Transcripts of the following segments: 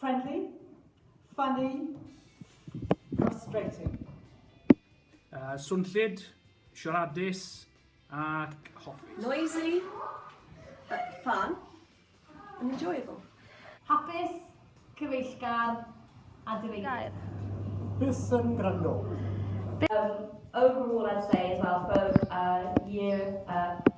Friendly, funny, frustrating. Uh, swnllyd, siaradus ac hoffus. Noisy, uh, fun, and enjoyable. Hapus, cyfeillgar a direidus. Bus yn gwrando. Um, overall, I'd say as well, for uh, year uh,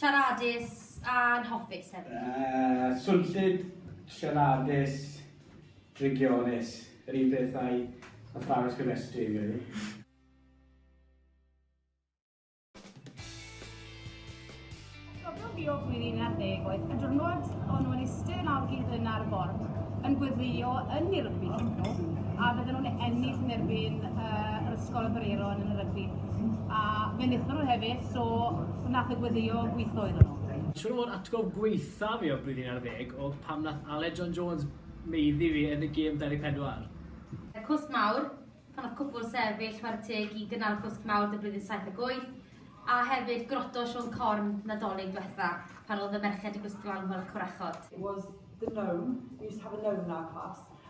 Siaradus a anhoffus hefyd. Swnllyd, siaradus, drygionus, yr un peth â'i athrawes gofrestru, fi'n credu. Cofio fi o flwyddyn un ar ddeg oedd y diwrnod o'n nhw'n eistedd yn algid yn ar y bord yn gweddïo yn i'r rygbi a fydden nhw'n ennill yn erbyn uh, yr ysgol y Bareron yn y rygbi. A fe wnaethon nhw hefyd, So, nath e gweddio gwithoedd o nhw? Tro'r atgof gwaetha fi o'r blwyddyn ar ddeg oedd pam nath Aled John Jones maeddu fi yn y gêm 24. Y cwsg mawr, pan nath cwpwl sefyll whare teg i gynnal cwsg mawr dy blwyddyn saith ag wyth, a hefyd groto Siôn Corn Nadolig dwetha pan oedd y merched yn gwisgo lan fel y corachod. It was the known, we used to have a known in our class,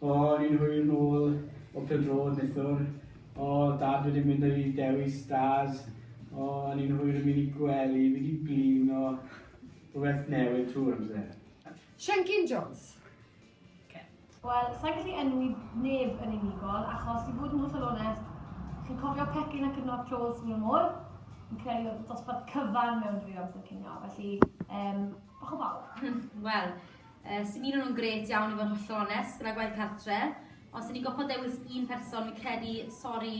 O, ni'n hwyr nôl o pêl-droed neithiwr. O, Dad wedi mynd â fi i Dewi Stars. O, ni'n hwyr yn mynd i gwely, fi 'di blino. Rhywbeth newydd trwy'r amser. Siencyn Jones. Wel, sa i'n gallu enwi neb yn unigol, achos i fod yn hollol onest, chi'n cofio pecyn a cyfnod clo wrth ymyl y môr? Fi'n credu oedd dosbarth cyfan mewn drwy amser cinio, felly, yym, bach o bawb. Wel, Yy, sdim un o nhw'n grêt iawn i fod yn hollol onest, gyda gwaith cartre. Os i ni'n gofod dewis un person, fi'n credu, sori,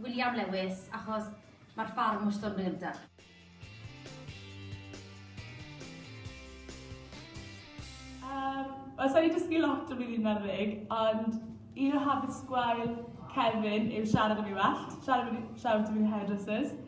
William Lewis, achos mae'r ffarm wastod yn dod yn gynta. Yym, wel sa i 'di dysgu lot o flwyddyn ar ddeg, ond un o habits gwael Kevin yw siarad am ei wellt. Shout out to the hairdressers.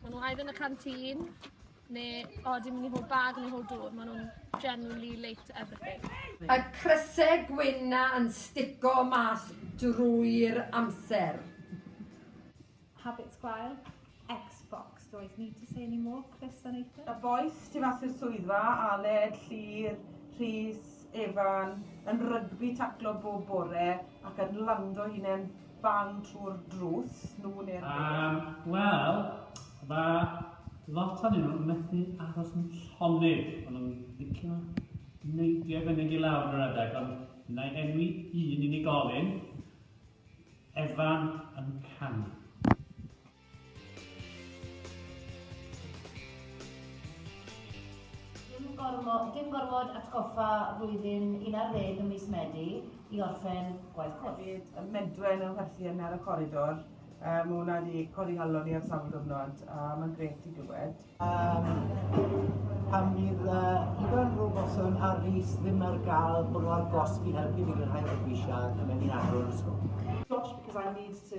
Maen nhw either yn y canteen, neu o, dim mynd i hol bag neu hol dŵr. Maen nhw'n generally late everything. Y crysau gwyn yn stico mas drwy'r amser. Habits gwael. Xbox, do I need to say any more? Chris a Nathan? Y boys tu fas i'r swyddfa, Aled, Llyr, Rhys, Evan, yn rygbi taclo bob bore ac yn lando hunain bang trwy'r drws, nhw neu'r bêl? Yy, wel, ma' lot ohonyn nhw methu aros yn llonydd. Ma' nhw'n licio neidio i fyny ag i lawr ar adeg, ond wna i enwi un unigolyn, Evan yn canu. Dim gormod atgoffa flwyddyn un ar ddeg ym mis Medi i orffen gwaith cwrs. Hefyd, y medwen yn chwerthu yna ar y coridor, mae hwnna wedi codi nghalon i ar sawl gyfnod a mae'n grêt i glywed. Pan fydd Ifan Robertson a Rhys ddim ar gael, bod nhw ar gosb i helpu fi glanhau'r fabwysiau ac yn mynd i adrodd yr ysgol. Gosh, because I need to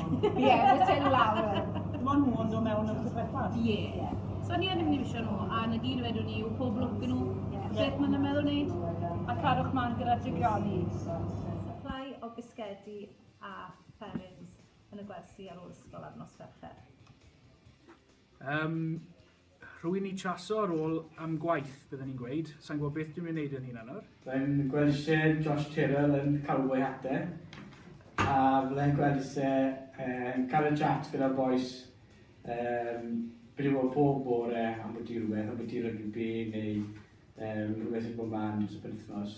Ie, mae ti'n lawr. Dim ond nhw yn dod mewn yn wrth bethau. Ie. So ni yn mynd i misio nhw, a na gyd wedwn ni yw pob lwc yn nhw. Beth maen nhw'n meddwl wneud? A cadwch man gyda drigioni. Supply o bisgedi a fferins yn y gwersi ar ôl ysgol ar nos Fercher. Um, Rwy'n y traso ar ôl am gwaith, bydden i'n gweud. Sain gwybod beth dwi'n mynd i wneud yn hunan nawr. Fe'n gwelse Josh Tyrrell yn cael way ate, a fydde'n gwelse yn cael y chat gyda'r bois um, briwo pob bore am bwyty rhywbeth, am bwyty rygbi neu um, rhywbeth sy'n bod man dros y penthnos.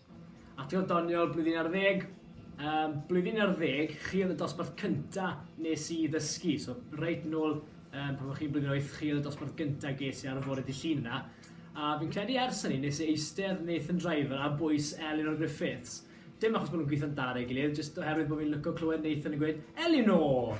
Atgof doniol, blwyddyn ar ddeg. Um, blwyddyn ar ddeg, chi oedd y dosbarth cynta nes i ddysgu. So, reit nôl, um, pan o'ch chi'n blwyddyn oeth, chi oedd y dosbarth gynta ges i ar y fore di llun yna. A fi'n credu ers hynny, nes i eistedd Nathan Driver a bwys Eleanor Griffiths. Dim achos bod nhw'n gweithio'n dda ar ei gilydd, jyst oherwydd bod fi'n lyco clywed Nathan yn gweud, Eleanor!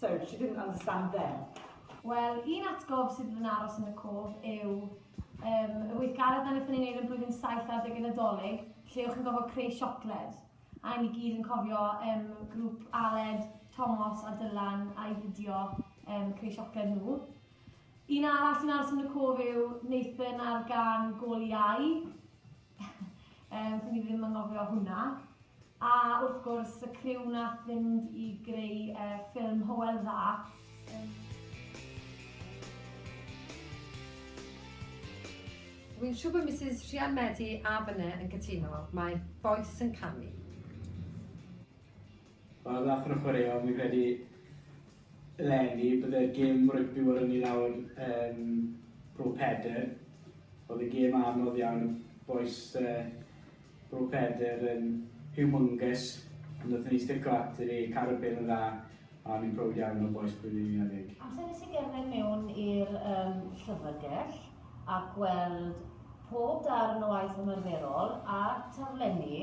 So, she didn't understand them. Wel, un atgof sydd yn aros yn y cof yw um, y weithgaredd na wnaethon ni'n neud yn blwyddyn 7 ar degau Nadolig, lle o'ch chi'n gofio creu siocled. A ni gyd yn cofio um, grŵp Aled, Tomos a Dylan a'i fideo um, creu siocled nhw. Un arall sy'n aros yn y cof yw Nathan ar gan Gol Iau. Yym, dwi ddim yn ngofio hwnna. A wrth gwrs, y criw nath fynd i greu uh, ffilm Hywel Dda. Dwi'n siŵr bod Mrs Rhian Medi a Fyne yn cytuno, mae bois yn canu. Wel nath nhw chwaraeo fi'n credu eleni bydde'r gêm rygbi wedi ni lawr yn Bro Pedr. Oedd y gêm anodd iawn, bois uh, Bro Pedr yn humongous, ond nath ni stico ati ni, cael y bel yn dda, a ni'n prowd iawn o bois blwyddyn 11. Amser nes i gerdded mewn i'r um, llyfrgell a gweld pob darn o waith ymarferol a taflenni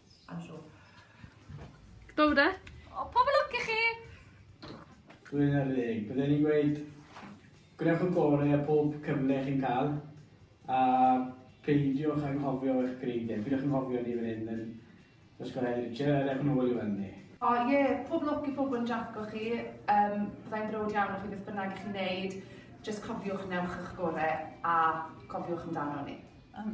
I'm sure. Go de. O, pob yn lwc i chi! Rwy'n ar ddeg. Byddwn ni'n gweud, gwnewch y gore a pob cyfle chi'n cael, a peidiwch anghofio eich greidiau. Peidiwch anghofio ni fan hyn yn Ysgol Heddyd Richard, a dewch yn ôl i weld ni. O ie, yeah, pob lwc i pobl yn draco chi, um, byddai'n brod iawn o chi beth bynnag chi'n neud, jyst cofiwch newch eich gore a cofiwch amdano ni. Um,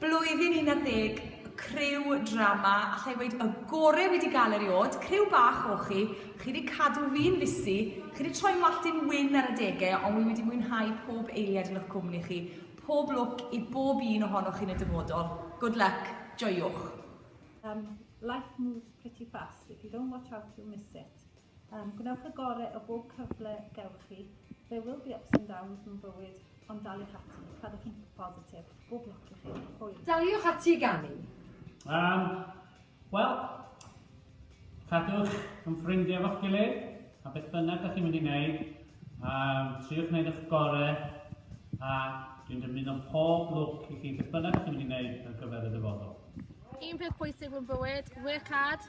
Blwyddyn 11 y criw drama, allai weud y gore wedi gael eriod, criw bach o chi, chi wedi cadw fi'n fusi, chi wedi troi'n wallt i'n wyn ar adegau ond wi wedi mwynhau pob eiliad yn eich cwmni chi, pob lwc i bob un ohonoch chi yn y dyfodol. Good luck. Joiwch. Life moves pretty fast, if you don't watch out you'll miss it. Um, gwnewch y gore o bob cyfle gewch chi. There will be ups and downs mewn bywyd, ond daliwch ati, cadwch yn positif. Bob lwc i chi. Hwyl. Daliwch ati i ganu. Um, Wel, cadwch yn ffrindiau fo'ch gilydd, a beth bynnag ydych chi'n mynd i wneud, um, triwch wneud eich gorau, a dwi'n dymuno pob lwc i chi beth bynnag ydych chi'n mynd i wneud ar gyfer y dyfodol. Un peth pwysig mewn bywyd, work hard,